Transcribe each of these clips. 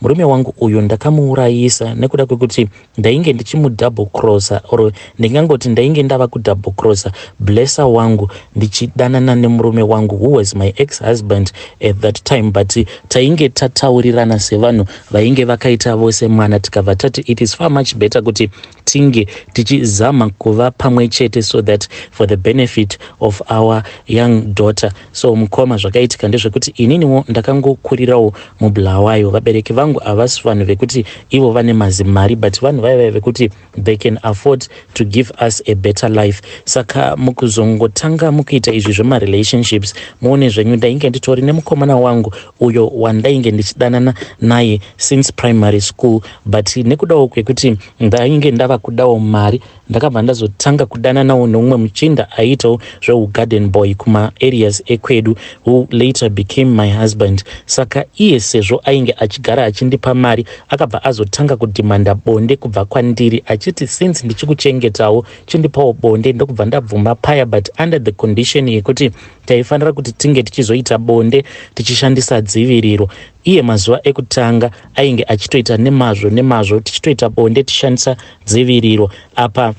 Murume wangu uyu ndakamuurayisa nekuda kwekuti ndainge ndichimudouble crosser or ndingangoti ndainge ndava kudouble crosser blesser wangu ndichidanana nemurume wangu who was my ex husband at that time but tainge tataurirana sevanhu vainge vakaita vose mwana tikabva tati it is far much better kuti tinge tichizama kuva pamwe chete so that for the benefit of our young daughter so mukoma zvakaitika ndezvekuti ininiwo ndakangokurirawo mubulawayo vabereki vangu havasi vanhu vekuti ivo vane mazimari but vanhu vaiva vekuti they can afford to give us a better life saka mukuzongotanga mukuita izvi zvemarelationships muone zvenyu ndainge nditori nemukomana wangu uyo wandainge ndichidanana naye since primary school but nekudawo kwekuti ndainge ndava kudawo mari ndakabva ndazotanga kudananawo neumwe muchinda aiitawo zveugarden boy kumaareas ekwedu who later became my husband saka iye sezvo ainge achigara achindipa mari akabva azotanga kudhimanda bonde kubva kwandiri achiti since ndichikuchengetawo chindipawo bonde ndokubva ndabvuma paya but under the condition yekuti Taifanira kuti tinge tichizoita bonde tichishandisa dziviriro. Iye mazuva ekutanga ainge achitoita nemazvo nemazvo tichitoita bonde tichishandisa dziviriro. Apa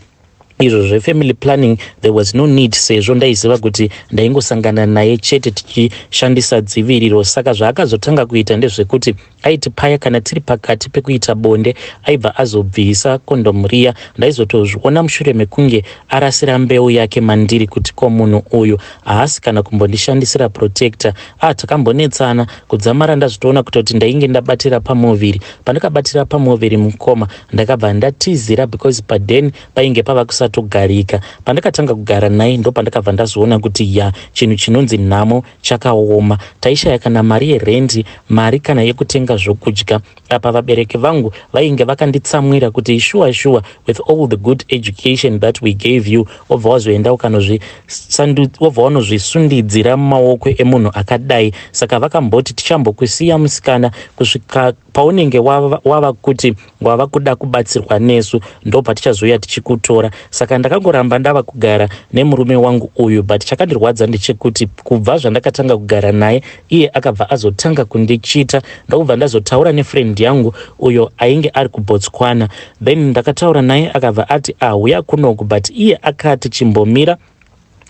izvo zvefamily planning there was no need sezvo ndaiziva kuti ndaingosangana naye chete tichishandisa dziviriro saka zvaakazotanga kuita ndezvekuti aiti paya kana tiri pakati pekuita bonde aibva azobvisa kondomu riya ndaizotozviona mushure mekunge arasira mbeu yake mandiri kuti ko munhu uyu haasi kana kumbondishandisira protector ah takambonetsana kudzamara ndazvitoona kutoti ndainge ndabatira pamuviri pandakabatira pamuviri mukoma ndakabva ndatizira because paden painge pava kusatogarika pandakatanga kugara naye ndopandakabva ndazoona kuti ya chinhu chinonzi nhamo chakaoma taishaya kana mari yerendi mari kana yekutenga zvokudya apa vabereki vangu vainge vakanditsamwira kuti shuwa shuwa with all the good education that we gave you wobva wazoenda ukanozwobva wanozvisundidzira mumaoko emunhu akadai saka vakamboti tichambokusiya musikana kusvika Paunenge wava, wava kuti wava kuda kubatsirwa nesu ndopatichazouya tichikutora. Saka ndakangoramba ndava kugara nemurume wangu uyu but chakandirwadza ndechekuti kubva zvandakatanga kugara naye iye akabva azotanga kundichita ndokubva ndazotaura nefriend yangu uyo ainge ari kuBotswana then ndakataura naye akabva ati ahuya kunoku but iye akati chimbomira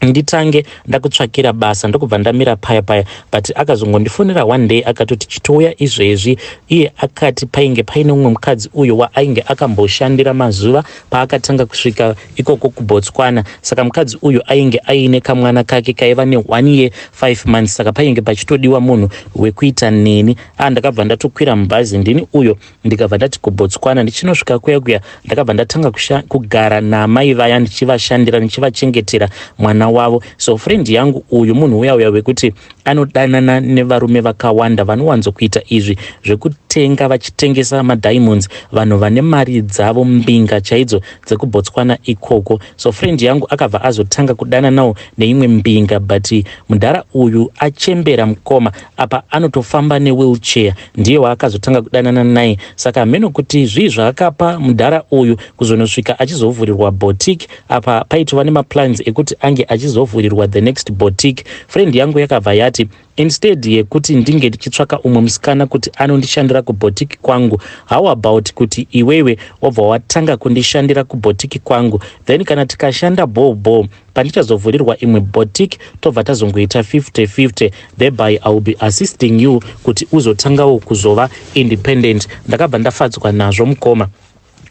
nditange ndakutsvakira basa ndokubva ndamira paya paya but akazongondifonera one day akatoti chitouya izvezvi iye akati painge paine umwe mukadzi uyo waainge akamboshandira mazuva paakatanga kusvika ikoko kubotswana saka mukadzi uyu ainge aine kamwana kake kaiva ne one year five months saka painge pachitodiwa munhu wekuita neni a ah, ndakabva ndatokwira mubhazi ndini uyo ndikabva ndati kubotswana ndichinosvika kuya kuya ndakabva ndatanga kugara naamai vaya ndichivashandira ndichivachengetera mwana wavo so friend yangu uyu munhu uya uya wekuti anodanana nevarume vakawanda vanowanzokuita izvi zvekutenga vachitengesa madiamonds vanhu vane mari dzavo mbinga chaidzo dzekubotswana ikoko so friend yangu akabva azotanga kudananawo neimwe mbinga but mudhara uyu achembera mukoma apa anotofamba newheelchair ndiye waakazotanga kudanana naye saka hameno kuti zvii zvaakapa mudhara uyu kuzonosvika achizovhurirwa boutique apa paitova nemaplans ekuti ange achizovhurirwa the next boutique friend yangu yakabva yati instead yekuti ndinge ndichitsvaka umwe musikana kuti anondishandira kuboutique kwangu how about kuti iwewe wabva watanga kundishandira kuboutique kwangu then kana tikashanda bhoo bhoo pandichazovhurirwa imwe boutique tobva tazongoita 50 50 thereby i will be assisting you kuti uzotangawo kuzova independent ndakabva ndafadzwa nazvo mukoma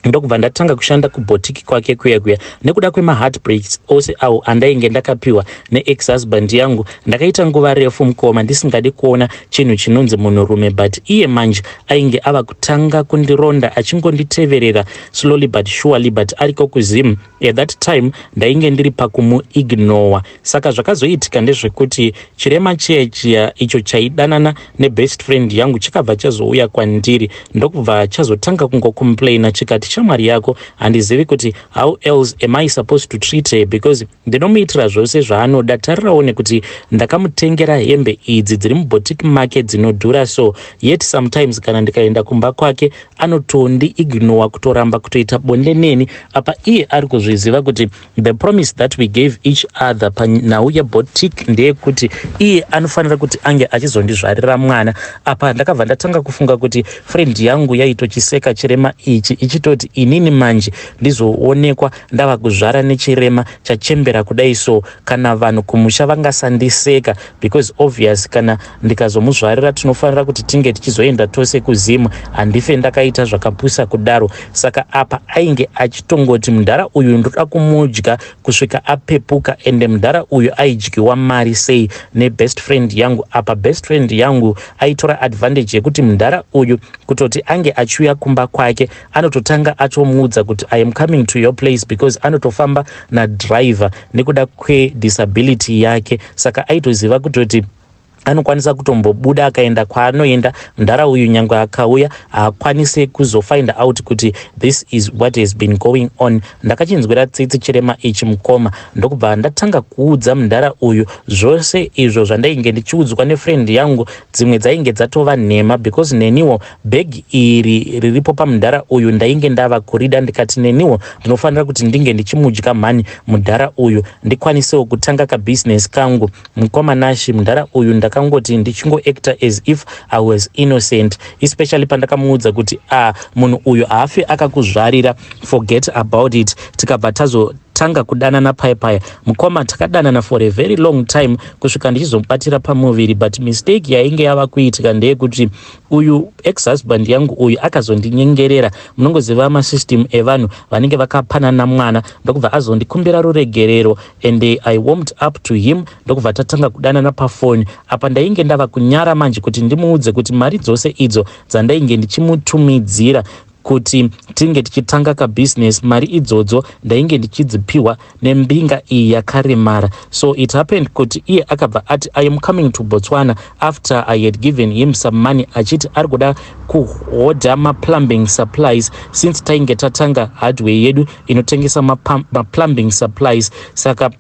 ndokubva ndatanga kushanda kubotiki kwake kuya kuya nekuda kwemaheartbreaks ose awo andainge ndakapiwa neex husband yangu ndakaita nguva refu mukoma ndisingadi kuona chinhu chinonzi munhurume but iye manje ainge ava kutanga kundironda achingonditeverera slowly but surely but ariko kuzim At that time ndainge ndiri pakumu ignowa saka zvakazoitika ndezvekuti chirema chiya chiya icho chaidanana nebest friend yangu chikabva chazouya kwandiri ndokubva chazotanga kungocomplaina chikati shamwari yako handizivi kuti how else am i supposed to treat her because ndinomuitira zvose zvaanoda tarirawo nekuti ndakamutengera hembe idzi dziri mubotiki make dzinodhura so yet sometimes kana ndikaenda kumba kwake anotondi ignowa kutoramba kutoita bonde neni apa iye ari kuzviziva kuti the promise that we gave each other panhau yebotic ndeyekuti iye anofanira kuti ange achizondizvarira mwana apa ndakabva ndatanga kufunga kuti friend yangu yaitochiseka chirema ichi ichitoti inini manje ndizoonekwa ndava kuzvara nechirema chachembera kudai so kana vanhu kumusha vangasandiseka because obvious kana ndikazomuzvarira tinofanira kuti tinge tichizoenda tose kuzim handife ndakaita zvakapusa kudaro saka apa ainge achitongoti mudhara uyu ndoda kumudya kusvika apepuka ende mudhara uyu aidyiwa mari sei nebest friend yangu apa best friend yangu aitora advantage yekuti mudhara uyu kutoti ange achiuya kumba kwake anototanga atomuudza kuti i am coming to your place because anotofamba nadriver nekuda kwedisability yake saka aitoziva kutoti anokwanisa kutombobuda akaenda kwaanoenda mdhara uyu nyangwe akauya haakwanise kuzofind out kuti this is what has been going on ndakachinzwira tsitsi chirema ichi mukoma ndokubva ndatanga kuudza mdhara uyu zvose izvo zvandainge ndichiudzwa nefriend yangu dzimwe dzainge dzatova nhema because neniwo bag iri riripo pamdhara uyu ndainge ndava kurida ndikati neniwo ndinofanira kuti ndinge ndichimudya mhani mudhara uyu ndikwanisewo kutanga kabusiness kangu Mkoma Nashy mdhara uyu ndakangoti ndichingo actor as if I was innocent especially pandakamuudza kuti ah munhu uyu haafi akakuzvarira forget about it tikabva tazo tanga kudanana paye paye mukoma takadanana for a very long time kusvika ndichizomubatira pamuviri but mistake yainge yava kuitika ndeyekuti uyu ex husband yangu uyu akazondinyengerera munongoziva masystem evanhu vanenge vakapanana mwana ndokubva azondikumbira ruregerero and I warmed up to him ndokubva tatanga kudanana pafoni. Apa ndainge ndava kunyara manje kuti ndimuudze kuti mari dzose idzo dzandainge ndichimutumidzira kuti tinge tichitanga kabusiness mari idzodzo ndainge ndichidzipiwa nembinga iyi yakaremara so it happened kuti iye akabva ati i am coming to botswana after i had given him some money achiti ari kuda kuhodha maplumbing supplies since tainge tatanga hardware yedu inotengesa maplumbing supplies saka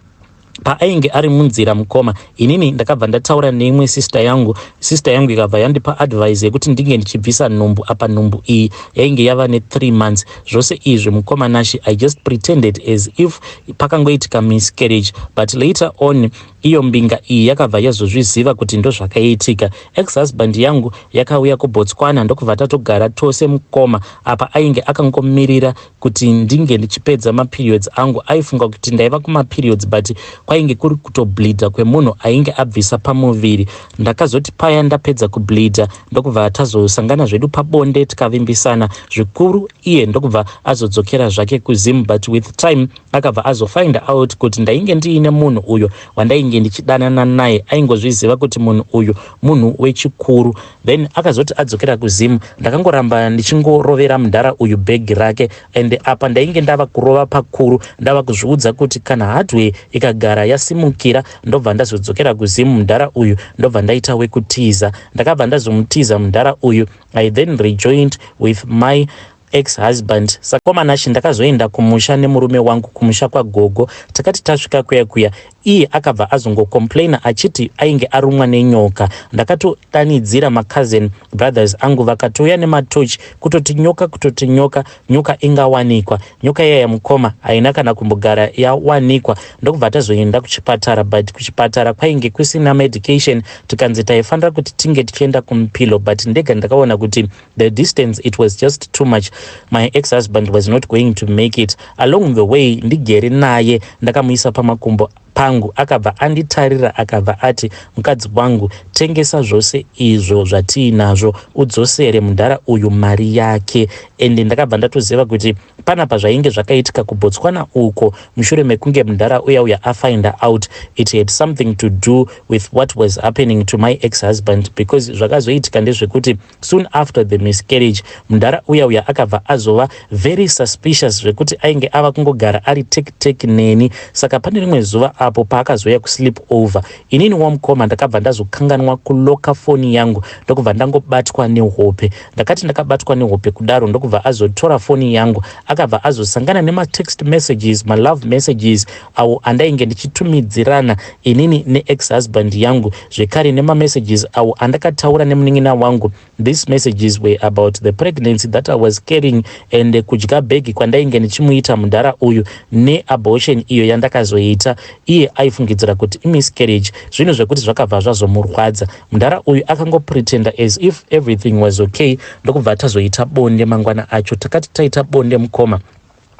paainge ari munzira mukoma inini ndakabva ndataura neimwe sister yangu sister yangu ikabva yandipa advise yekuti ndinge ndichibvisa nhumbu apa nhumbu iyi yainge yava ne3 months zvose izvi mukoma nashi i just pretended as if pakangoitika miscarriage but later on iyo mbinga iyi yakabva yazozviziva kuti ndozvakaitika ex husband yangu yakauya kubotswana ndokubva tatogara tose mukoma apa ainge akangomirira kuti ndinge ndichipedza maperiods angu aifunga kuti ndaiva kumaperiods but kwainge kuri kutobleedha kwemunhu ainge abvisa pamuviri ndakazoti paya ndapedza kubleedha ndokubva tazosangana zvedu pabonde tikavimbisana zvikuru iye ndokubva azodzokera zvake kuzim but with time akabva azofind out kuti ndainge ndiine munhu uyo wandainge ndichidanana naye aingozviziva kuti munhu uyu munhu wechikuru then akazoti adzokera kuzim ndakangoramba ndichingorovera mudhara uyu bhegi rake and apa ndainge ndava kurova pakuru ndava kuzviudza kuti kana hardway ikagara yasimukira ndobva ndazodzokera kuzim mudhara uyu ndobva ndaita wekutiza ndakabva ndazomutiza mudhara uyu i then rejoined with my Ex husband saka kwa Manashe ndakazoenda kumusha nemurume wangu kumusha kwagogo takati tasvika kuya kuya iye akabva azongo complaina achiti ainge arumwa nenyoka ndakatodanidzira ma cousin brothers angu vakatouya nematochi kutoti nyoka kutoti nyoka nyoka ingawanikwa nyoka iyaya mukoma haina kana kumbogara yawanikwa ndokubva tazoenda kuchipatara but kuchipatara kwainge kusina medication tikanzi taifanira kuti tinge tichienda kumupilo but ndega ndakaona kuti The distance it was just too much my ex husband was not going to make it along the way ndigere naye ndakamuisa pamakumbo pangu akabva anditarira akabva ati mukadzi wangu tengesa zvose izvo zvatiinazvo udzosere mudhara uyu mari yake ende ndakabva ndatoziva kuti pana pazvainge zvakaitika kubotswana uko mushure mekunge mudhara uya uya afinder out it had something to do with what was happening to my ex husband because zvakazoitika ndezvekuti Soon after the miscarriage, mdhara uya uya akabva azova very suspicious zvekuti ainge ava kungogara ari take take neni. Saka pane rimwe zuva apo paakazouya kusleep over, inini wamukoma ndakabva ndazokanganwa kuloka foni yangu ndokubva ndangobatwa nehope. Ndakati ndakabatwa nehope kudaro ndokubva azotora foni yangu akabva azosangana nematext messages, malove messages awo andainge ndichitumidzirana inini neex husband yangu zvekare nemamessages awo andakataura nemunin'ina wangu these messages were about the pregnancy that i was carrying and kudya bhegi kwandainge ndichimuita mudhara uyu neabortion iyo yandakazoita iye aifungidzira kuti imiscarriage zvinhu zvekuti zvakabva zvazomurwadza mudhara uyu akangopretenda as if everything was okay ndokubva tazoita bonde mangwana acho takati taita bonde mukoma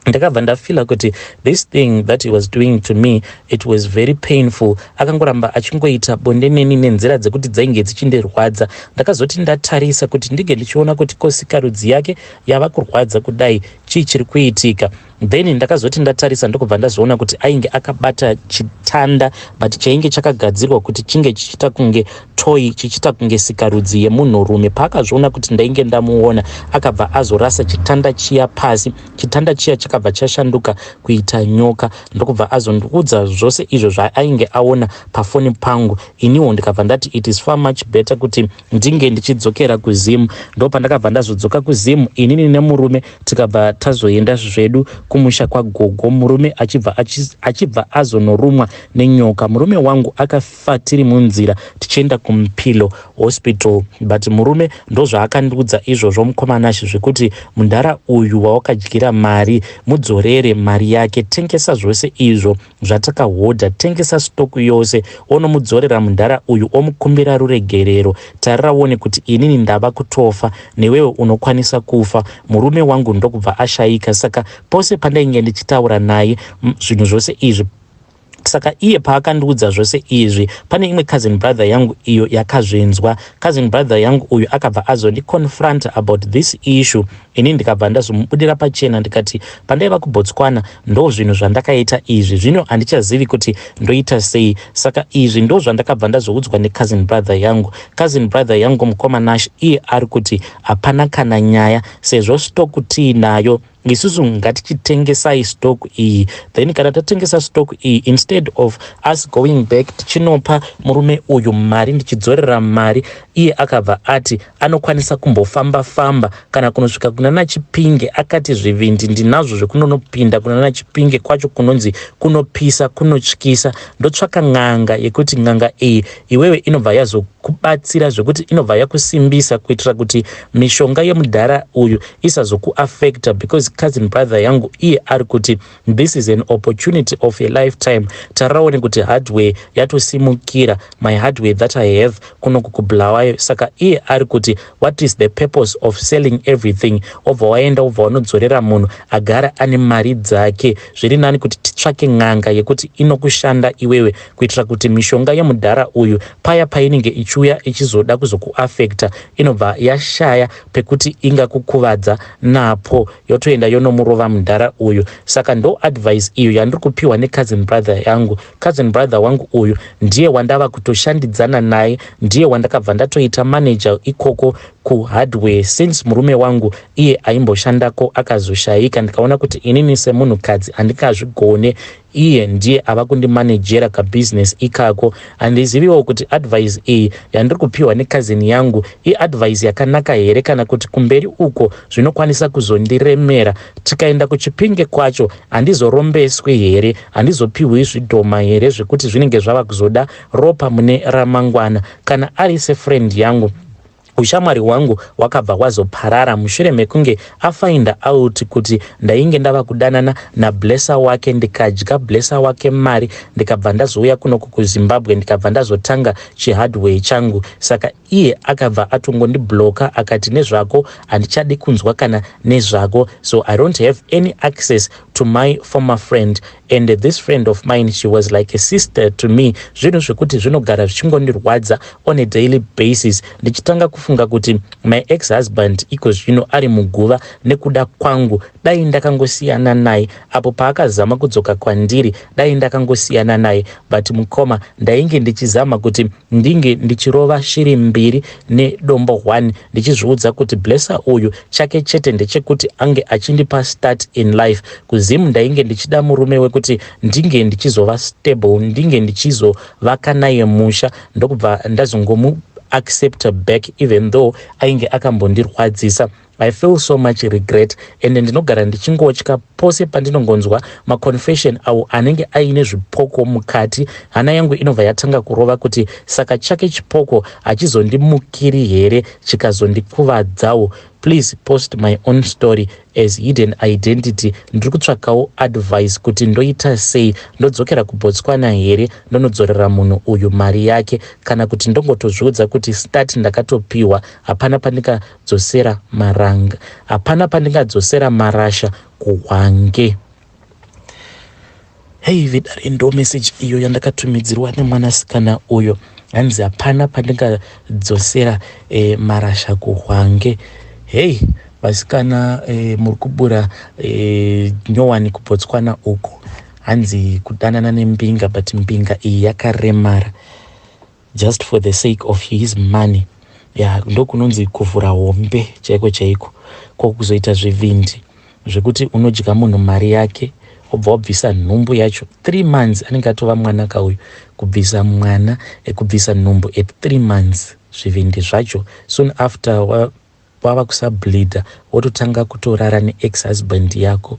ndakabva ndafeela kuti this thing that he was doing to me it was very painful akangoramba achingoita bonde neni nenzira dzekuti dzainge dzichindirwadza ndakazoti ndatarisa kuti ndinge ndichiona kuti kosikarudzi yake yava kurwadza kudai chii chiri kuitika then ndakazoti ndatarisa ndokubva ndazoona kuti ainge akabata chitanda but chainge chakagadzirwa kuti chinge chichiita kunge Toyi chichiita kunge sikarudzi yemunhurume. Paakazviona kuti ndainge ndamuona, akabva azorasa chitanda chiya pasi. Chitanda chiya chakabva chashanduka kuita nyoka ndokubva azondiudza zvose izvo zvaainge aona pafoni pangu. Iniwo ndikabva ndati it is far much better kuti ndinge ndichidzokera kuZim. Ndo pandakabva ndazodzoka kuZim inini nemurume tikabva tazoenda zvedu kumusha kwagogo murume achibva achibva azonorumwa nenyoka. Murume wangu aka Takafa tiri munzira tichienda kuMpilo hospital but murume ndozvaakandiudza izvozvo mukoma Nash zvekuti mudhara uyu wawakadyira mari mudzorere mari yake tengesa zvose izvo zvatakahodha tengesa stock yose onomudzorera mudhara uyu omukumbira ruregerero tarira uone kuti inini ndava kutofa newewe unokwanisa kufa murume wangu ndokubva ashaika saka pose pandainge ndichitaura naye zvinhu zvose izvi Saka iye paakandiudza zvose izvi, pane imwe cousin brother yangu iyo yakazvinzwa. Cousin brother yangu uyu akabva azondi confronter about this issue ini ndikabva ndazomubudira pachena ndikati pandaiva kuBotswana ndozvinhu zvandakaita izvi, zvino handichazivi kuti ndoita sei. Saka izvi ndozvandakabva ndazoudzwa necousin brother yangu. Cousin brother yangu mukoma Nash iye ari kuti hapana kana nyaya sezvo stock tiinayo. isusu ngatichitengesai stock iyi then kana tatengesa stock iyi instead of us going back tichinopa murume uyu mari ndichidzorera mari iye akabva ati anokwanisa kumbofamba famba kana kunosvika kuna nachipinge akati zvivindi ndinazvo zvekunonopinda kuna nachipinge kwacho kunonzi kunopisa kunotyisa ndotsvaka n'anga yekuti n'anga iyi iwewe inobva yazokubatsira zvekuti inobva yakusimbisa kuitira kuti mishonga yemudhara uyu isazoku affecta because cousin brother yangu iye ari kuti this is an opportunity of a lifetime taraone kuti hardware yatosimukira my hardware that i have kunoku kubulawayo saka iye ari kuti what is the purpose of selling everything obva waenda obva wanodzorera munhu agara ane mari dzake zviri nani kuti titsvake n'anga yekuti inokushanda iwewe kuitira kuti mishonga yemudhara uyu paya painenge ichiuya ichizoda kuzokuaffecta inobva yashaya pekuti ingakukuvadza napo yotoenda yonomurova mdhara uyu saka ndo advice iyo yandiri kupiwa ne cousin brother yangu cousin brother wangu uyu ndiye wandava kutoshandidzana naye ndiye wandakabva ndatoita manager ikoko ku hardware since murume wangu iye aimboshandako akazoshaika ndikaona kuti inini semunhu kadzi handingazvigone Iye ndiye ava kundimanejera kabusiness ikako. Handiziviwo kuti advice iyi yandiri kupihwa necousin yangu iadvice yakanaka here kana kuti kumberi uko zvinokwanisa kuzondiremera. Tikaenda kuChipinge kwacho handizorombeswi here? Handizopihwi zvidhoma here zvekuti zvinenge zvava kuzoda ropa mune ramangwana? Kana ari sefriend yangu Ushamwari hwangu hwakabva hwazoparara mushure mekunge afind out kuti ndainge ndava kudanana nablesser wake ndikadya blesser wake mari ndikabva ndazouya kunoku kuzimbabwe ndikabva ndazotanga chihardware changu saka iye akabva atongondibloka akati nezvako handichadi kunzwa kana nezvako so i don't have any access to my former friend and this friend of mine she was like a sister to me zvinhu zvekuti zvinogara zvichingondirwadza on a daily basis ndichitanga kufunga kuti my ex husband iko zvino ari muguva nekuda kwangu dai ndakangosiyana naye apo paakazama kudzoka kwandiri dai ndakangosiyana naye but mukoma ndainge ndichizama kuti ndinge ndichirova shiri mbiri nedombo one ndichizviudza kuti Blesser uyu chake chete ndechekuti ange achindipa start in life. KuZim ndainge ndichida murume wekuti ndinge ndichizova stable ndinge ndichizovaka naye musha ndokubva ndazongomu acceptor back even though ainge akambondirwadzisa. I feel so much regret ende ndinogara ndichingotya pose pandinongonzwa maconfession awo anenge aine zvipoko mukati hana yangu inobva yatanga kurova kuti saka chake chipoko hachizondimukiri here chikazondikuvadzawo please post my own story as hidden identity ndiri kutsvakawo advice kuti ndoita sei ndodzokera kubotswana here ndonodzorera munhu uyu mari yake kana kuti ndongotozviudza kuti start ndakatopiwa hapana pandinga dzosera maranga hapana pandingadzosera marasha kuhwange hei vidare ndo meseji iyo yandakatumidzirwa nemwanasikana uyo hanzi hapana pandingadzosera e, marasha kuhwange hei vasikana e, muri kubura e, nyowani kubotswana uko hanzi kudanana nembinga but mbinga iyi yakaremara just for the sake of his money ya ndokunonzi kuvhura hombe chaiko chaiko ko kuzoita zvivindi zvekuti unodya munhu mari yake obva wabvisa nhumbu yacho three months anenge atova mwana ka uyu kubvisa mwana ekubvisa nhumbu at three months zvivindi zvacho soon after wava kusableeda wototanga kutorara neex husband yako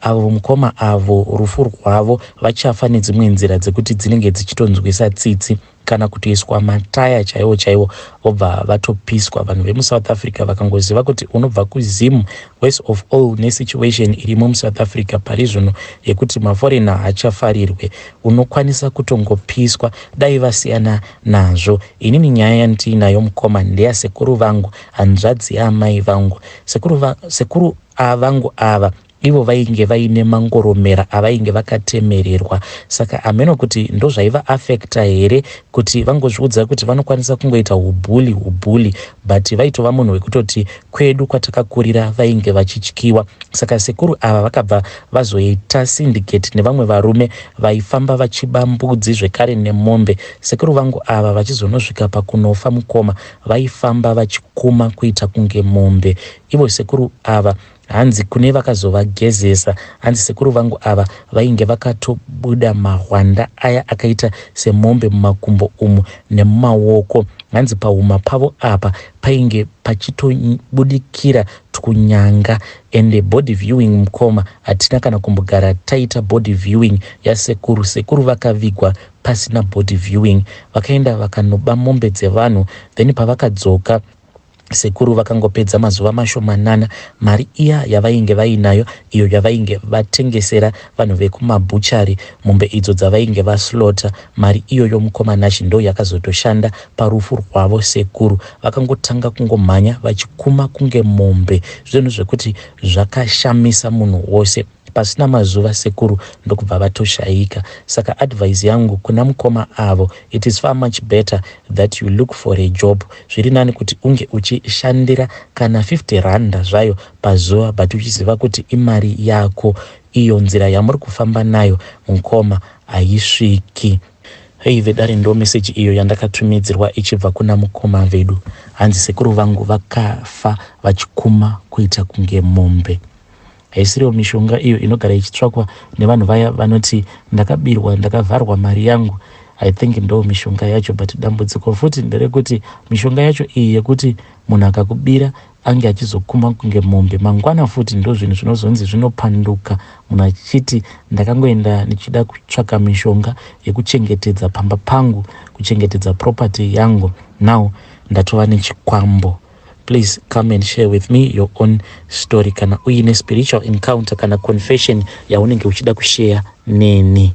Avo mukoma avo rufu rwavo vachafa nedzimwe nzira dzekuti dzinenge dzichitonzwisa tsitsi kana kutoiswa mataya chaiwo chaiwo vobva vatopiswa vanhu vemusouth africa vakangoziva kuti unobva kuzim worse of all nesituation irimo musouth africa pari zvino yekuti maforena hachafarirwe unokwanisa kutongopiswa dai vasiyana nazvo inini nyaya yandiinayo mukoma ndeyasekuru vangu hanzvadzi yaamai vangu sekuru, va, sekuru Aa vangu ava ivo vainge vaine mangoromera avainge vakatemererwa saka hameno kuti ndozvaiva affecta here kuti vangozviudza kuti vanokwanisa kungoita hubhuli hubhuli but vaitova munhu wekutoti kwedu kwatakakurira vainge vachityiwa saka sekuru ava vakabva vazoita syndicate nevamwe varume vaifamba vachiba mbudzi zvekare nemombe sekuru vangu ava vachizonosvika pakunofa mukoma vaifamba vachikuma kuita kunge mombe Ivo sekuru ava hanzi kune vakazovagezesa hanzi sekuru vangu ava vainge vakatobuda mahwanda aya akaita semombe mumakumbo umu nemumawoko hanzi pahuma pavo apa painge pachitobudikira twunyanga ende body viewing mukoma hatina kana kumbogara taita body viewing yasekuru sekuru vakavigwa pasina body viewing vakaenda vakanoba mombe dzevanhu then pavakadzoka Sekuru vakangopedza mazuva mashomanana mari iya yavainge vainayo iyo yavainge vatengesera vanhu vekumabhuchari mombe idzo dzavainge vaslaughter. Mari iyoyo mukoma Nashy ndoyakazotoshanda parufu rwavo. Sekuru vakangotanga kungomhanya vachikuma kunge mombe zvinhu zvekuti zvakashamisa munhu wose. Pasina mazuva sekuru ndokubva vatoshaika saka advice yangu kuna mukoma avo it is far much better that you look for a job zviri nani kuti unge uchishandira kana 50 randa zvayo pazuva but uchiziva kuti imari yako iyo nzira yamuri kufamba nayo mukoma haisviki Hei vedare ndo message iyo yandakatumidzirwa ichibva kuna mukoma vedu hanzi sekuru vangu vakafa vachikuma kuita kunge mombe Haisiriwo mishonga iyo inogara ichitsvakwa nevanhu vaya vanoti ndakabirwa ndakavharwa mari yangu. I think ndo mishonga yacho but dambudziko futi nderekuti mishonga yacho iyi yekuti munhu akakubira ange achizokuma kunge mombe mangwana futi ndo zvinhu zvinozonzi zvinopanduka munhu achiti ndakangoenda ndichida kutsvaka mishonga yekuchengetedza pamba pangu kuchengetedza property yangu now ndatova nechikwambo Please come and share with me your own story kana uine spiritual encounter kana confession yaunenge uchida kushare neni.